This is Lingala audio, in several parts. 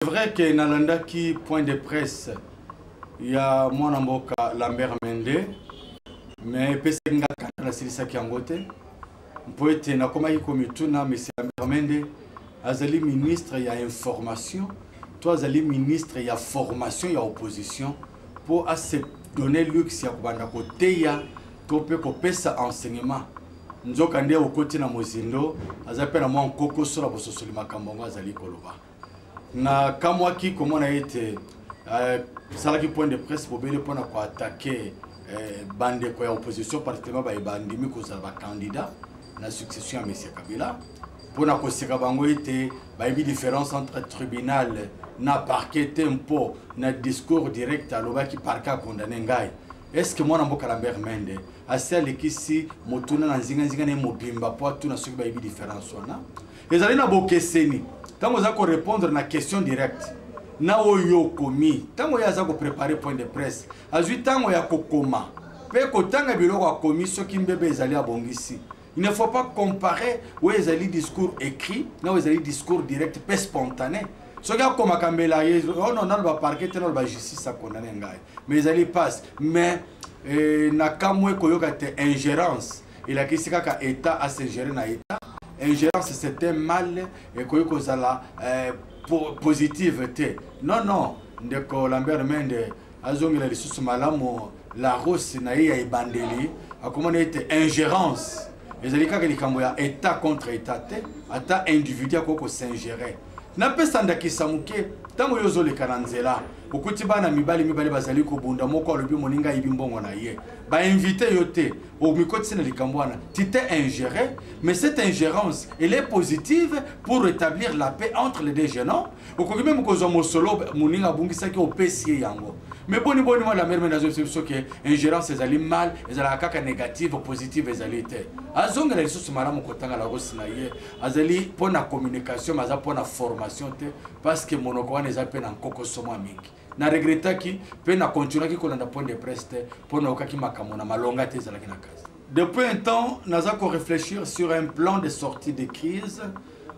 vrai que nalandaki point de presse ya mwana mboka lambert mende mais epesaki nga kanda nasilisaki yango te mpo ete nakomaki komituna monsieur lambert mende azali ministre ya information to azali ministre ya formation ya opposition mpo ase donne luxe ya kobanda koteya to mpe kopesa enseignement nzoka nde okoti na mozindo aza mpe na mwa nkokoso na bososoli makambo yango azali koloba nakamwaki komona ete euh, salaki point de presse bobele mpo na koatake euh, bandeko ya opposition particulièrement baye bandimi kozala bacandidat na succession ya monsieur kabila mpo na koseka bango ete bayebi différence entre tribunal na parquet te mpo na discours direct alobaki parquet akondane ngai estce mwana mboka lambert mende asi alekisi motuna na nzinganzinga na ye mobimba mpo atuna soki bayebi différence wana ezali na bokeseni ntango oza korepondre na question directe na oyo okomi ntango ye aza koprepare point de presse azwi ntango ya kokoma mpe kotanga biloko akomi soki mbebe ezali abongisi il ne faut pas comparer oyo ezali discours écrit na oyo ezali discours direct mpe spontané soki akomaka mbela ye ono oh nano baparke te nano bajustice akondane ngai mais ezali passe mais eh, nakamwe koyoka te ingérence elakisi kaka etat a se gérer na etat ingérence c'est un mal ekoki kozala euh, po, positive te non non ndeko lambert mende azongela lisusu malamu la rose na ye ya ebandeli akomona ete ingérence ezali kaka likambo ya etat contre etat te ata individu akoki kosingere napesa ndakisa moke ntango yo ozoleka na nzela okuti bana mibali mibale bazali kobunda moko alobi moninga ayibi mbongo na ye bainvite yo te omikotisi na likambo wana tu t'es ingéré mais cette ingérence elle est positive pour rétablir la paix entre les deux jeunes hommes okoki meme kozwa mosolo moninga abungisaki opesi ye yango mais boni boni mwa la mère mene azobisa biso ke ingérence ezali mal ezalaka kaka négative positive ezali te azongela lisusu malamu kotanga larosi na ye azali mpo na communication mais aza mpo na formation te parce que monoko wana eza mpe na nkokoso mwa mingi na regretaki mpe na continuaki kolanda point de presse te mpo naokaki makambo na malonga te ezalaki na kasi depuis un temps naza koreflechir sur un plan de sortie de crise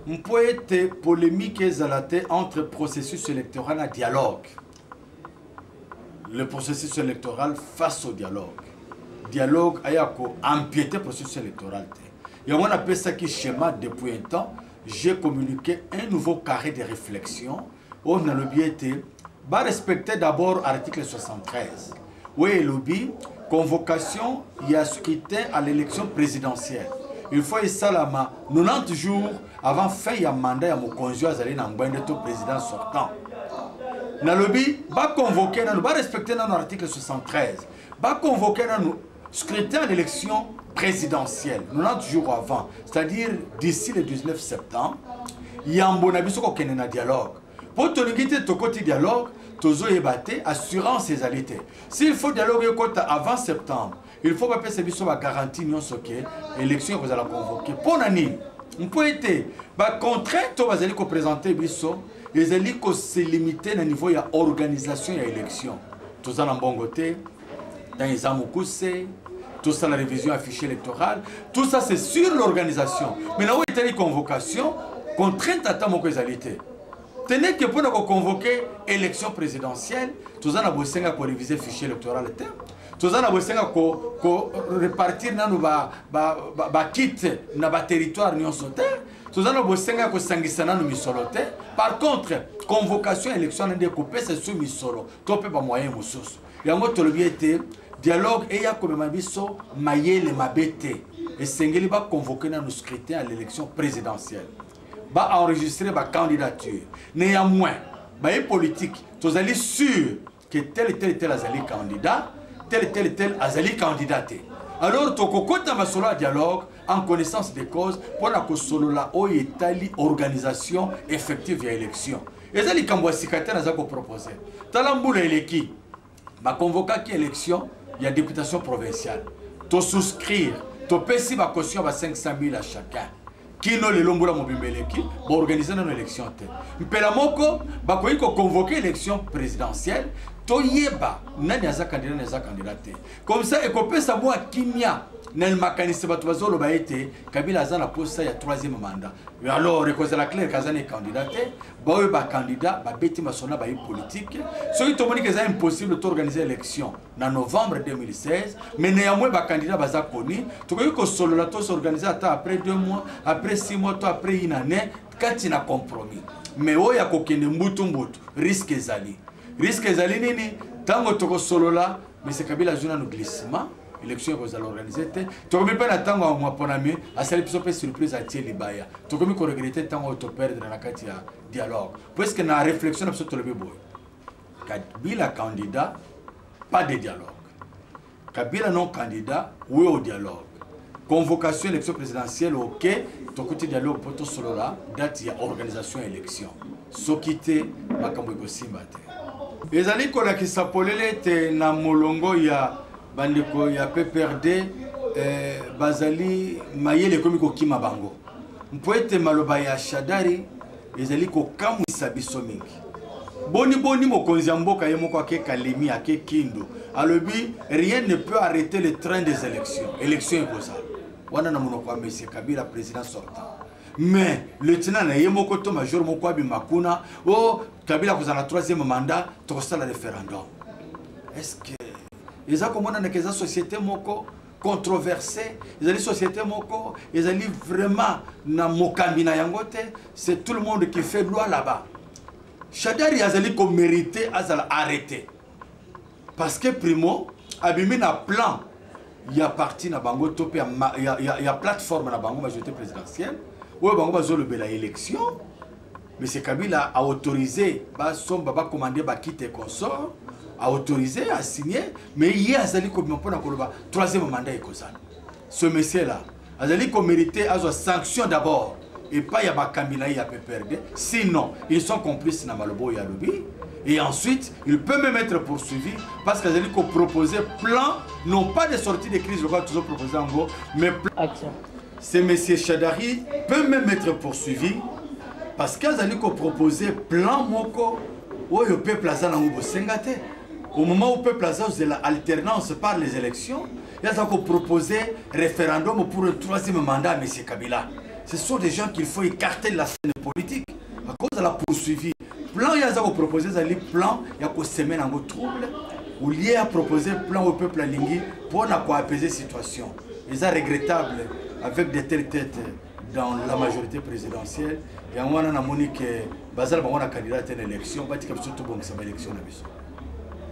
mpo ete polémique ezala te entre processus électoral na dialogue le processus électoral face au dialogue dialogue aya koempiete processus électoral te yango napesaki schéma depuis un temps j'ai communiqué un nouveau carré de réflexion oyo oh, nalobi ete barespecte d'abord article 73 oyo elobi convocation ya scrutin à l'élection présidentielle il faut esalama 90 jours avant fin ya mandat ya mokonzi oyo azali na ngwende to président sortant nalobi baconvoke nano barespecte nano article 73 Ba convoquer nanu scrutin d'élection présidentielle 90 jours avant, c'est-à-dire d'ici le 19 septembre, yambo na biso kokende na dialogue. Po tolingi te tokoti dialogue, tozoyeba te assurance ezali te. S'il faut dialogue ekota avant septembre, il faut bapesa biso ba garantie nyonso ke élection ekozala convoquer. Mpo na nini? Mpo ete ba contraintes oyo bazali kopresente biso ezali ko se limiter na niveau ya organisation ya élection toza na mbongo te ntango eza mokuse tosala révision ya fichier électoral tout ça c'est sur l'organisation mais na oyo etali convocation contrainte ata moko ezali te tenez que mpo na koconvoke élection présidentielle toza na bosenga korévise fichier électoral te toza na bosenga korepartir ko nanu bakite ba, ba, ba na baterritoire nyonso te toza na bosenga ya kosangisa nano misolo te par contre convocation ya élection nande kopesa biso misolo to mpe bamoyen mosusu yango tolobi ete dialogue eya komema biso mayele mabe te esengeli baconvoke nano scrutin ya l'élection présidentielle baenregistre bacandidature néanmoins baye politique tozali sur que tel tel tel azali candidat tel tel tel azali candidat te alors tokokota masolo ya dialogue en connaissance de cause mpo na kosolola oyo etali organisation effective ya élection eza likambo ya sika te naza kopropose tala mbula eleki bakonvokaki élection ya députation provinciale tosouscrire topesi bacaution ba 500 000 à chacun kino lelo mbula mobimba eleki baorganize nano élection te mpela moko bakoki koconvoke élection présidentielle toyeba nani aza kandida nani aza kandida te comme ça ekopesa mwa kimia na makanisi bato bazoloba ete kabila aza na posa ya troisième mandat alors ekozala claire kaza ne candidat te baoyo bacandidat babeti masona baye politique soki tomoni ke eza impossible toorganize élection na novembre 2016 mais néanmoins bacandidat baza koni tokoki kosolola to s'organiser ata après deux mois après six mois to après une année kati na compromis mais oyo ya kokende mbutu mbutu risque ezali risque ezali nini ntango tokosolola mese kabila azwi nano glissement élection ekozala organise te tokomi mpe na ntango ya mwaponami asali biso mpe surprise atie libaya tokomi koregrete ntango oyo toperdre na kati ya dialogue puiske na réflexion na biso tolobi boye Kabila candidat, pas de dialogue. Kabila non candidat, oui au dialogue. Convocation élection présidentielle, ok, tokuti dialogue poto solola, date ya organisation élection. Soki te, makambo ekosimba te. Ezali kolakisa polele ete na molongo ya bandeko ya PPRD eh, bazali mayele ekomi kokima bango mpo ete maloba ya Shadari ezali kokamwisa biso mingi boni boni mokonzi ya mboka ye moko ake kalemi ake kindu alobi rien ne peut arrêter le train des élections élection ekozala wana na monoko ya monsieur kabila président sortant mais lieutenant na ye moko to major moko abima kuna o oh, kabila akozala na troisième mandat tokosala référendum est ce que eza komonanaka eza société moko controversé ezali société moko ezali vraiment na mokambi na yango te c'est tout le monde qui fait loi là-bas shadari azali komérite azala arrêté parce que primo abimi na plan ya parti na bango to mpe ya, ya, ya plateforme na bango majorité présidentielle oyo bango bazolobela élection Monsieur Kabila a autorisé ba somba ba commander ba kit et consort, a autorisé a signer mais ye azali ko pona koloba troisième mandat ekozala. Ce monsieur là azali ko mériter azwa sanction d'abord et pas ya bakambi na ye ya PPRD sinon ils sont complices na malobo ya lobi et ensuite il peut même être poursuivi parce qu'ils allaient proposer plan non pas de sortie de crise le toujours proposé en gros mais plan... Ce monsieur Shadari peut même être poursuivi parce qu'azali ko proposer plan moko oyo peuple aza nango bosenga te. Au moment où peuple aza ozela alternance par les élections, yaza ko proposer référendum pour le troisième mandat monsieur Kabila. Ce sont des gens qu'il faut écarter de la scène politique à cause de la poursuivi. Plan yaza ko proposer ezali plan ya ko semer nango trouble au lieu ya proposer plan au peuple alingi pour na ko apaiser situation. eza regrettable avec des telles têtes dans la majorité présidentielle yango wana namoni ke bazala bango na candidat te na élection batika biso tobongisa baélection na biso